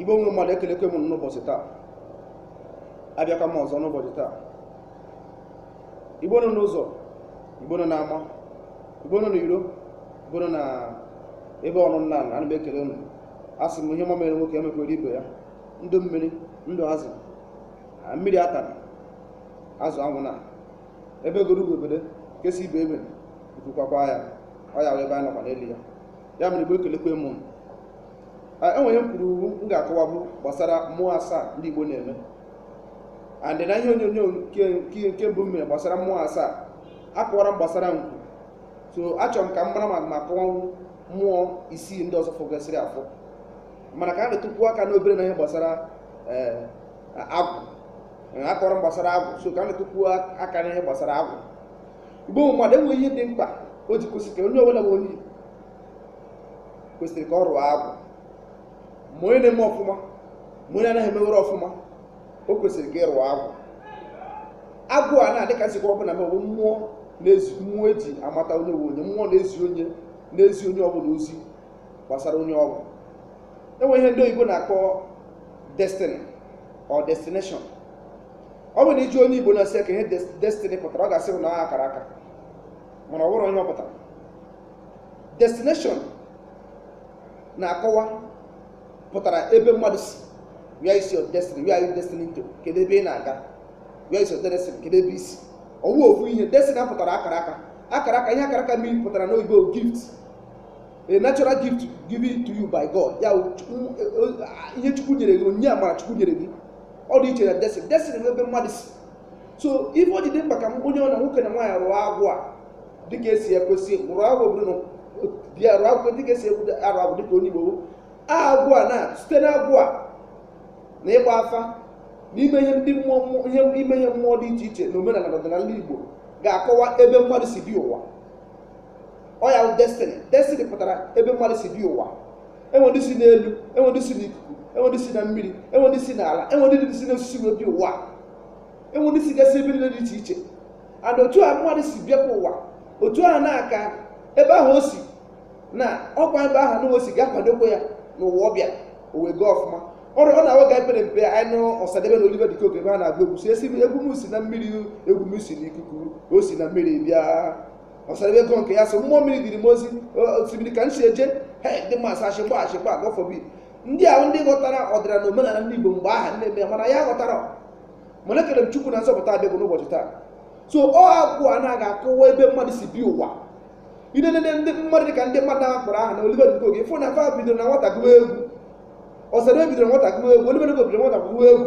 igbo nwe mmadụ ekelekwa m unu n'ụbọchị taa abịakwa m ọzọ n'ụbọchị taa igbo nọ n'ụzọ igbo nọ n'ama igbo nọ n'iro igbo nọ na ebe ọrụ nna ala ana m ekele unu a sị m ihe ọma mere nwoke emekwere ibe ya ndụ mmiri ndụ azụ mmiri atana azụ anwụna egbe bere ugo bere nke si ibe ya ebena nku kwakwaa ya ọ ya wụ ebe anyị nọkwa n'elu ya ya mere igbo ekelekwa m unu. Ah, enwe ihe m kwuru mbụ m ga-akọwa bụ gbasara mmụọ asaa ndị igbo na-eme and na ihe onyonyo nke nke nke mbụ m mere gbasara mmụọ asaa akọwara m gbasara nkwu so achọrọ m ka m mara ma m ga-akọwanwu mmụọ isii ndị ọzọ fọgasịrị afọ mana ka m detukwuo aka n'obere na ihe gbasara eh, agwụ Eh, akọwara m gbasara agwụ so ka m detukwuo aka n'ihe gbasara agwụ igbo nwe mmadụ enwe ihe dị mkpa o ji kwesịrị ka onye ọbụla bụ onye igbo kwesịrị ka ọ rụọ agwụ ma onye na-eme ọfụma ma onye anaghị emewere ọfụma o kwesịrị ka ị rụọ agwụ agwụ a na-adị ka nsikwa ọbụla ma ọ bụ mmụọ na-ezi mmụọ eji amata onye wụ onye mmụọ na-ezi onye na-ezi onye ọbụla ozi gbasara onye ọ wụ enwe ihe ndị oyibo na-akpọ destiny or destination ọ bụrụ na ị jụọ onye igbo na-asị ka ihe des- destiny pụtara ọ ga-asị na ọ akara aka mana ọ bụrọ ihe ọ pụtara destination a na-akọwa pụtara ebe mmadụ si where is your destiny where are you destined to kedu ebe ị na-aga where is your destiny kedu ebe i si ọ wụ ofu ihe destiny pụtara akara aka akara aka ihe akara aka mean pụtara n'oyibo gift a natural gift given to you by God ya wụ Chukwu- e- e- ihe Chukwu nyere gị onyinye amara Chukwu nyere gị ọ dị iche na destiny destiny bụ ebe mmadụ si so ife o ji dị mkpa ka onye ọwụna nwoke na nwaanyị rụọ agwụ a dịka esi ekwesị rụọ agwụ ọ bụrụ na ị bịa rụọ agwụ dịka esi ekwudo arụ agwụ dịka onye Igbo bụ. agwụ a na site na agwụ a na ịgba afa n'ime ihe ndị mmụọ mmụọ- ihe ime ihe mmụọ dị iche iche na omenala na ọdịnala Igbo ga-akọwa ebe mmadụ si bịa ụwa ọ ya bụ destiny destiny pụtara ebe mmadụ si bịa ụwa enwe ndị si n'elu enwe ndị si n'ikuku enwe ndị si na mmiri enwe ndị si n'ala enwe ndị si n'osisi wee bịa ụwa enwe ndị si gasị ebe niile dị iche iche and otu a mmadụ si bịakwa ụwa otu ahụ ka ebe ahụ o si na ọkwa ebe ahụ na o si ga-akwadokwa ya n'ụwa ọ bịa o wee gaa ọfụma ọrụ ọ na-awa ga epere mpe anyị nụ ọsadebe na oliver de coque ebe ha na-agụ egwu si esi egwu m si na mmiri egwu m si n'ikuku o si na mmiri bịa Ọsadebe gụọ nke ya sị mmụọ mmiri diri m ozi osimiri ka m si eje he ndị mmasị achị mgba achị mgba gọfọbi ndị ahụ ndị ghọtara ọdịnala na omenala ndị Igbo mgbe ahụ nne ya mana ya ghọtara mana ekele m Chukwu na nzọpụta abịago n'ụbọchị taa so ọ agwụ a na-aga akọwa ebe mmadụ si bịa ụwa ị nenee ndị mmadụ dị ka ndị mmadụ ahụ kpọrọ aha na Oliver De Coque ị fụ na fa bidoro na nwata gụwa egwu Ọsadebe bidoro nwata gụwa egwu Oliver De Coque bidoro nwata gụwa egwu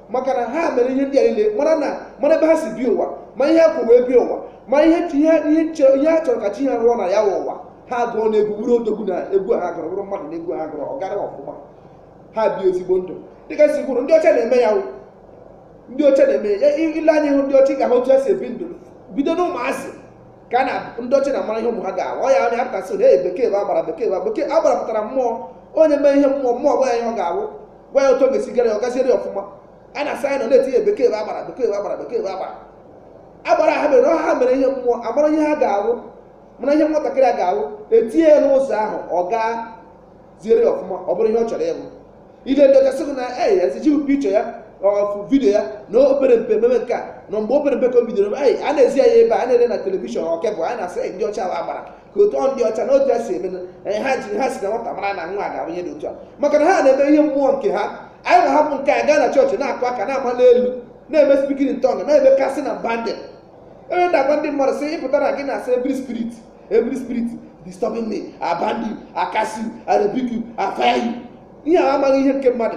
maka na ha mere ihe ndị a niile mara na mara ebe ha si bịa ụwa ma ihe ha kwuru wee bịa ụwa ma ihe chi- ihe ihe chọ- ihe ha chọrọ ka chi ha rụọ na ya wụ ụwa ha gụọ na egwu bụrụ odogwu na egwu a ha gụrụ bụrụ mmadụ na egwu a ha gụrụ ọ gara ọfụma ha bie ezigbo ndụ dịka si kwuru ndị ọcha na-eme ya wụ ndị ọcha na-eme ya I- ị lee anya ịhụ ndị ọcha ị ga-ahụ otu ha si ebi ndụ bido n'ụmụazị ka a na ndị ọcha na-amara ihe ụmụ ha ga-awụ ọ ya anyị apụta sị na ee bekee bụ agbara bekee bụ agbara." bekee agbara pụtara mmụọ onye mee ihe mmụọ mmụọ gwa ya ihe ọ ga-awụ gwa ya otu ọ ga-esi gara ya ọ gaziere ya ọfụma a na-asị anyị nọ na-etinye bekee bụ agbara bekee bụ agbara bekee bụ agbara agbara ha mere ha mere ihe mmụọ amara ihe ha ga-awụ mara ihe nwatakịrị a ga-awụ etinye ya n'ụzọ ahụ ọ gaziere ya ọfụma ọ bụrụ ihe ọ chọrọ ịwụ ị lee ndị ọcha sị gị na ei ezi gị pichọ ya ọfụ vidio ya na o pere mpe meme nke a na mgbe o pere mpe ka o bidoro ei a na-ezi ya ebe a na-ele na telivishọn ọkebụ a na-asị ndị ọcha wụ agbara ka otu ọ ndị ọcha na otu ya si eme eh, ha ji ha si na nwata mara na nwa a ga-abụ onye dị otu a maka na ha na-eme ihe mmụọ nke ha anyị na-ahapụ nke a gaa na chọọchị na-akụ aka na-ama n'elu na-eme speaking in tongue na-eme casting and binding ebe na-agwa ndị mmadụ sị ịpụtara gị na-asị every spirit every spirit disturbing me I bind you I cast you I rebuke you I fire you ihe a amaghị ihe nke mmadụ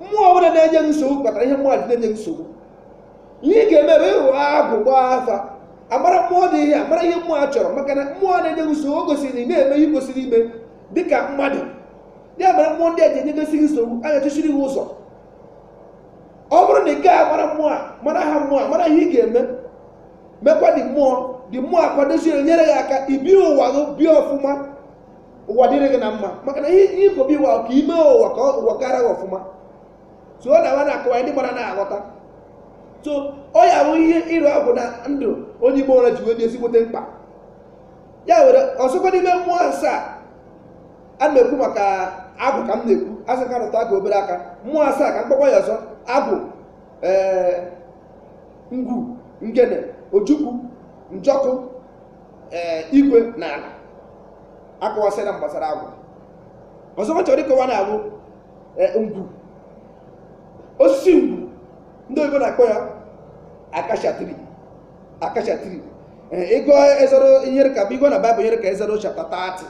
mmụọ ọbụla na-enye nsogbu kpatara ihe mmadụ na-enye nsogbu ihe ị ga-eme bụ ịrụ agwụ gbaa afa amara mmụọ dị ihe amara ihe mmụọ a chọrọ maka na mmụọ na-enye gị nsogbu o gosiri na ị na-eme ihe i kwesịrị ime dị ka mmadụ ya mere mmụọ ndị a ji enyegasị gị nsogbu a ga-echechiri gị ụzọ ọ bụrụ na ị gaghị amara mmụọ a mara aha mmụọ a mara ihe ị ga-eme mekwa ndị mmụọ ndị mmụọ akwadozie nyere gị aka ibi ụwa gị bie ọfụma ụwa dịrị gị na mma maka na ihe i kwu bịa ụwa ka ime ụwa ka ụwa gara gị ọfụma so ọ na-awụ a na-akọwa ndị mmadụ ana-aghọta so ọ ya bụ ihe ịrụ agwụ na ndụ onye Igbo ọbụla ji wee dị ezigbote mkpa ya nwere ọzọkwa n'ime mmụọ asaa a na-ekwu maka agwụ ka m na-ekwu asị ka m rụtụ agwụ obere aka mmụọ asaa ka m kpọọkwa ya ọzọ agwụ ee ngwu ngene ojukwu njọkụ ee igwe na ala akọwasịra m gbasara agwụ ọzọkwa chọrọ ịkọwa na agwụ e, ngwu osisi ngwu ndị oyibo na-akpọ ya acacia tree acacia tree ị gụọ exodus ihe ka bụ ị gụọ na baịbụl nyere ka exodus chapter 30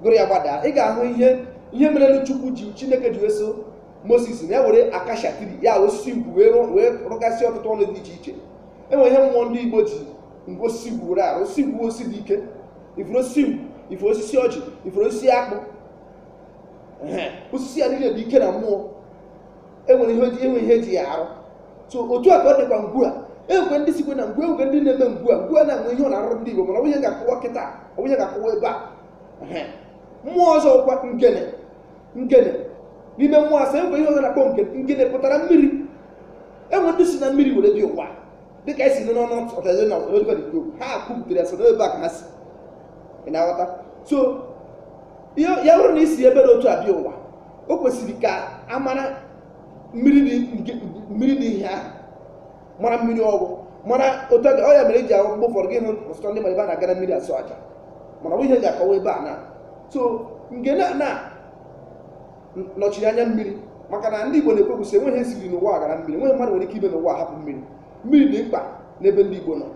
gụrụ ya gbadaa ị ga-ahụ ihe ihe merelu chukwu ji chineke ji eso moses na ya were acacia tree ya osisi ngwu wee rụọ- wee rụgasịa ọtụtụ ọrụ dị iche iche enwere ihe mmụọ ndị igbo ji ngwa osisi ngwu were arụ osisi ngwu osisi dị ike ị fụrụ osisi ngwu ị fụrụ osisi ọjị ị fụrụ osisi akpụ osisi ya niile dị ike na mmụọ enwere ihe enwe ihe eji ya arụ so otu a ka ọ dịkwa ngwu a enwekwe ndị sikwe na ngwu enwekwe ndị na-eme ngwu a ngwu a na-enwe ihe ọ na-arụrụ ndị Igbo mana ọ bụghị ihe ga-akọwa kịta ọ bụghị ihe ga-akọwa ebe a mmụọ ọzọ kwa ngene ngene n'ime mmụọ asaa enwekwe ihe ọzọ na-akpọ ngene pụtara mmiri enwe ndị si na mmiri were bịa ụwa dịka esi nụ n'ọnụ ọtazi na oliver de coque ha kwupụtara ya so n'ebe a ka ha si ị na-aghọta so ya ya bụrụ na i si ebe dị otu a bịa ụwa o kwesịrị ka a mara mmiri dị nke- mmiri dị ihe ahụ mara mmiri ọ wụ mara otu a ga- ọ ya mere eji ahụ mgbe ụfọdụ gị hụ ọtụtụ ndị mmadụ ebe a na-aga na mmiri achụ aja mana ọ bụ ihe m ga-akọwa ebe a na so ngene a na nọchiri anya mmiri maka na ndị Igbo na-ekwukwa sị enweghị ihe siri n'ụwa ghara mmiri enweghị mmadụ nwere ike ime n'ụwa hapụ mmiri mmiri dị mkpa n'ebe ndị Igbo nọ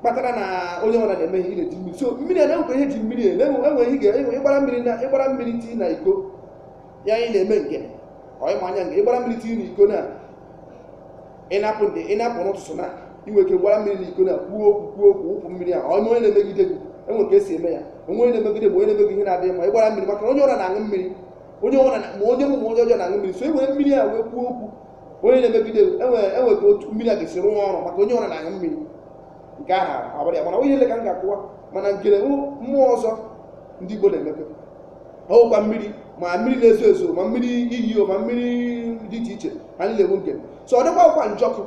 kpatara na onye ọbụla na-eme ihe ị na-eji mmiri so mmiri a na-enwekwa ihe ji mmiri eme enweghị ihe ga- ịgbara mmiri na ịgbara mmiri tii na iko ya anyị na-eme ngene ọ ịma anya nke ịgbara mmiri tii na iko na ịnapụ ndị ịnapụ n'ụtụtụ na inwe ike gbara mmiri na iko na kwuo okwu kwuo okwu wụpụ mmiri ahụ onye onye na-emegide gị enwe ka esi eme ya onwe onye na-emegide ma onye na-emegide ihe na-adịghị mma ịgbara mmiri maka na onye ọbụla na-aṅụ mmiri onye ọbụla na- ma onye ọma ma onye ọjọọ na-aṅụ mmiri so e were mmiri a wee kwuo okwu onye na-emegide gị, enwe enwe ka otu mmiri a ga-esi rụọ ọrụ maka onye ọbụla na-aṅụ mmiri nke ahụ abụrụ ya mana ọ bụghị ihe nile ka m ga-akọwa mana ngene wụ mmụọ ọzọ ndị Igbo na-emepe ọwụkwa mmiri ma mmiri na-ezo ezo ma mmiri iyi o ma mmiri dị iche iche ha niile bụ ngene so ọzọkwa wụkwa njọkụ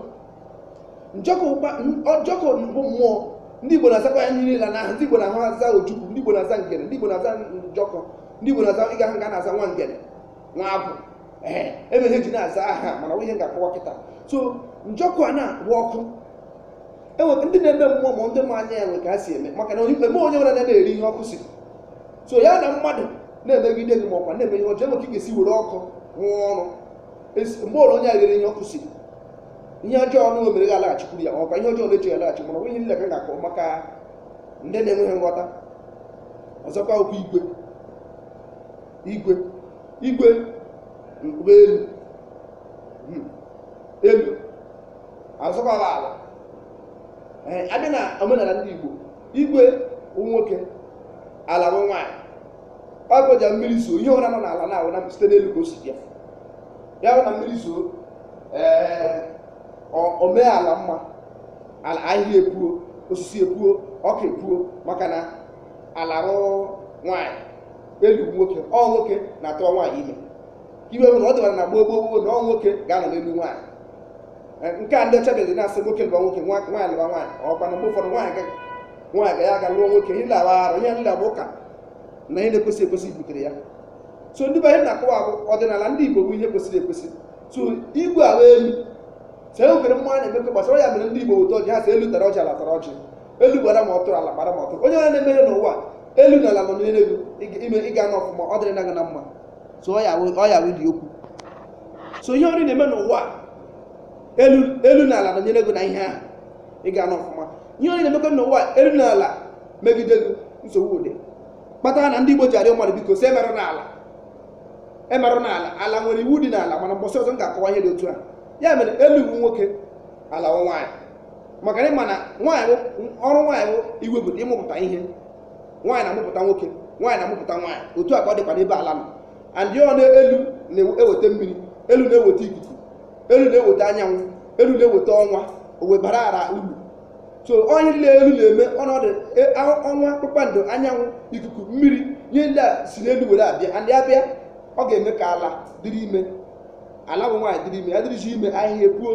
njọkụ wụkwa njọkụ bụ mmụọ ndị igbo na-azakwa ya niile n'aha ndị igbo na-ahụ aza ojukwu ndị igbo na-aza ngene ndị igbo na-aza njọkụ ndị igbo na-aza ị ga-ahụ nga na-aza nwa ngene nwa agwụ ee ebe ha ji na-aza aha mana ọ bụghị ihe ga-akọwa kịta so njọkụ a na-agba ọkụ enwe ndị na-eme mmụọ ma ndị ma anya ya nwe ka ha si eme maka na eme onye ọbụla na-eri ihe ọkụ si so ya na mmadụ na-emegide gị ma ọkwa na-eme ihe ọjọọ enwe ka ị ga-esi were ọkụ rụọ ọrụ mgbe ọbụla onye a riri ihe ọkụ si ihe ọjọọ ọnụ o mere gị alaghachikwuru ya ọkwa ihe ọjọọ na-eche ya alaghachi mana ọ bụghị ihe nile ka ga-akọ maka ndị na-enweghị nghọta ọzọkwa okwu igwe igwe igwe mkpụrụ elu hmm, elu ọzọkwa ala abịa na omenala ndị Igbo igwe nwoke ala wụ nwaanyị ọ bụ ya mmiri zoo ihe ọbụla nọ n'ala na-awụ na site n'elu ka o si bịa ya bụ na mmiri zoo ee ọ- o mee ala mma ala ahịhịa epuo osisi epuo ọka epuo maka na ala wụ nwaanyị elu nwoke ọ nwoke na-atụwa nwaanyị ime ihe bụ na ọ dịbara na gboo gboo gboo na ọ nwoke ga-anọ n'elu nwaanyị Eh, nke a ndị ọcha bịazi na-asị nwoke lụwa nwoke nwa- nwaanyị lụwa nwaanyị ọ kwa na mgbe ụfọdụ nwaanyị ga- nwaanyị ga ya aga lụọ nwoke ihe ndị a wụ arụ ihe ndị a bụ ụka na ihe na-ekwesịghị ekwesị butere ya so ndị be anyị na-akọwa bụ ọdịnala ndị igbo bụ ihe kwesịrị ekwesị so igwe ala elu so e nwere mmụọ na-emekọ gbasara ya mere ndị igbo weta ọjị ha sị elu tara ọjị ala tara ọjị elu gbara ma ọtụrụ ala gbara ma ọtụrụ onye ọbụla na-emere n'ụwa elu na ala nọ n'elu ime ị ga-anọ ọfụma ọ dịrị na gị na mma so ọ ya wụ- ọ ya wụ dị okwu so ihe ọbụla ị na-eme n'ụwa a, elu elu na ala nọnyere gị na ihe ahụ ị ga-anọ ọfụma ihe ọbụla ị na-emekọ n'ụwa a, elu na ala megide gị nsogbu adị kpatara na ndị Igbo ji arịọ mmadụ biko sị emerụna ala emerụna ala ala nwere iwu dị n'ala mana mbọsị ọzọ m ga-akọwa ihe dị otu a ya mere elu wụ nwoke ala wụ nwaanyị maka na ị ma na nwaanyị bụ- ọrụ nwaanyị bụ iwepụta ịmụpụta ihe nwaanyị na-amụpụta nwoke nwaanyị na-amụpụta nwaanyị otu a ka ọ dịkwa n'ebe ala nọ and ọ na elu na-eweta mmiri elu na-eweta ikuku elu na-eweta anyanwụ elu na-eweta ọnwa ọ wụ ihe bara ala uru so ihe niile elu na-eme ọnọdụ e, ọnwa kpakpando anyanwụ ikuku mmiri ihe ndị a si n'elu were abịa ndị a bịa ọ ga-eme ka ala dịrị ime ala bụ nwaanyị dịrị ime ya dịrịzi ime ahịhịa epuo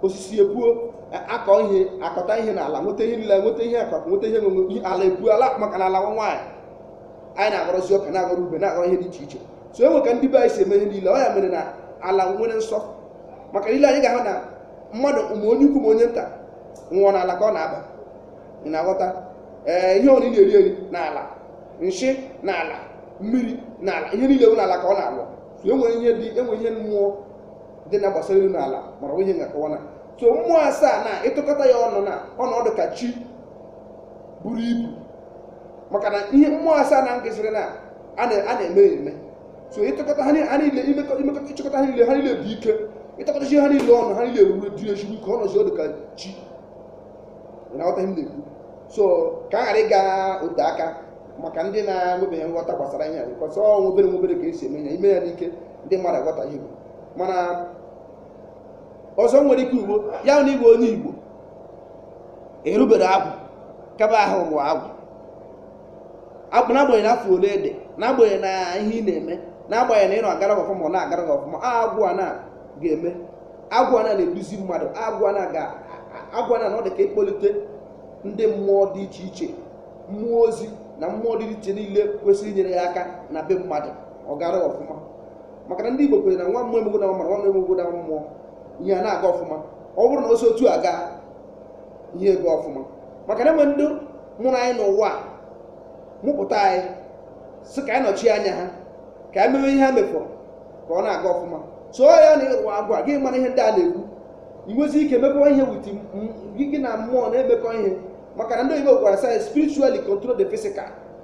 osisi epuo a kọọ ihe a kọta ihe n'ala nweta ihe niile nweta ihe akụkụ nweta ihe nwere ihe ala epuo ala maka na ala wụ nwaanyị anyị na-aghọrọzi ọka na-aghọrọ ube na-aghọrọ ihe dị iche iche so e nwere ka ndị be anyị si eme ihe niile ọ ya mere na ala nwere nsọ maka niile anyị ga-ahụ na mmadụ ma onye ukwu ma onye nta nwụọ n'ala ka ọ na-aba ị na-aghọta ee ihe ọbụla ị na-eri eri n'ala nshị n'ala mmiri n'ala ihe niile bụ n'ala ka ọ na-ala so enwere ihe dị enwere ihe mmụọ dị na gbasara elu na ala mana ihe na-akọwa na so mmụọ asaa na ịtụkọta ya ọnụ na ọnọdụ ka chi buru ibu maka na ihe mmụọ asaa na ngịziri na a na- a na-eme ya eme so ịtụkọta ha ni- ha niile imekọ- imekọta ịchịkọta ha niile ha niile bụ ike ịtụkọtachi ha niile ọnụ ha niile eruru dị ezigbo ike ọ nọzi ọ dị ka chi na-aghọta ihe m na-ekwu so ka a ghara ịga ote aka maka ndị na-enwebeghị nghọta gbasara ihe a because obere obere ka e si eme ya ị mee ya n'ike ndị mmadụ aghọtaghị igbo mana ọzọ nwere ike ugbo ya na igbo onye igbo erubere agwụ kaba ahụ rụọ agwụ n'agbanyeghị afọ ole ị dị n'agbanyeghị na ihe ị na-eme n'agbanyeghị na ihe na-agara gị ọfụma ọ na-agara gị ọfụma agwụ a na ga-eme agwụ a na na-eduzi mmadụ agwụ a na ga agwụ a na na ọ dị ka ịkpọlite ndị mmụọ dị iche iche mmụọ ozi na mmụọ dị iche niile kwesịrị inyere ya aka na be mmadụ ọ gara ọfụma maka na ndị Igbo kwere na nwa mmụọ emegbuna mmadụ nwa mmadụ emegbuna mmụọ ihe a na-aga ọfụma ọ bụrụ na o si otu a gaa ihe agaa ọfụma maka na e nwe ndị mụrụ anyị n'ụwa mụpụta anyị sị ka anyị nọchie anya ha ka anyị mewe ihe ha mefọrọ ka ọ na-aga ọfụma so ya na ị rụọ agwụ gị mara ihe ndị a na-ekwu i nwezie ike mekọ ihe with gị na mmụọ na-emekọ ihe maka na ndị oyibo gwara anyị sị spiritually control the physical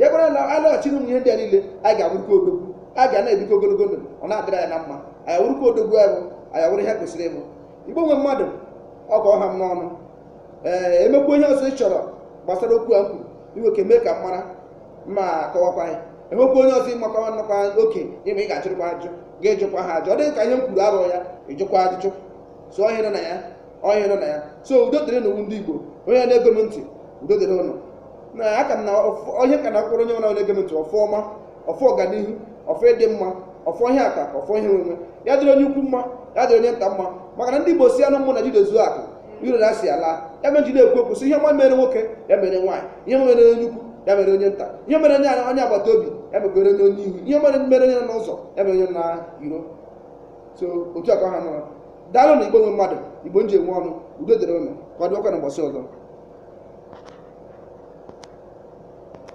ya bụrụ na a lọghachiri ụmụ ihe ndị a niile anyị ga-awụrụkwa odogwu a ga na-ebikọ ogologo ndụ ọ na-adịrị anyị na mma anyị awụrụkwa odogwu ahụ anyị awụrụ ihe kwesịrị ịbụ igbo nwe mmadụ ọ ka ọ ha m n'ọnụ ee e nwekwa ihe ọzọ ị chọrọ gbasara okwu a m kwuru i nwe ike mee ka m mara ma kọwakwa ya e nwekwa onye ọzọ ị makwa nnọkwa oke ịma ị ga-ajụrụkwa ajụ gaa jụkwa ha ajụ ọ dị gị ka ihe m kwuru awụrọ ya ị jụkwa ajụjụ so onye nọ na ya onye nọ na ya so udo dịrị ụnụwa ndị igbo onye na-ege m ntị udo dịrị ụnụ na aka m na ọfọ- onye ka na mkpụrụ onye ọbụla na-ege m ntị ọfọ ọma ọfọ ọganihu ọfọ ịdị mma ọfọ ihe akụ akụ ọfọ ihe enwe enwe ya dịrị onye ukwu mma ya dịrị onye nta mma maka na ndị igbo sị na ụmụnna jidezuo akụ iro na asị alaa ya mere e ji ekwu okwu sị ihe ọma mere nwoke ya mere nwaanyị ihe ọma mere onye ukwu ya mere onye nta ihe mere onye onye agbata obi ya mekwere onye onye ihu ihe mere mere onye nọ n'ụlọ ya mere onye nọ n'iro so otu a ka ọ ha m n'ọnụ daalụnụ igbo nwe mmadụ igbo m ji eme ọnụ udo dịrị ụnụ ka ọ dịkwa na ụbọchị ọzọ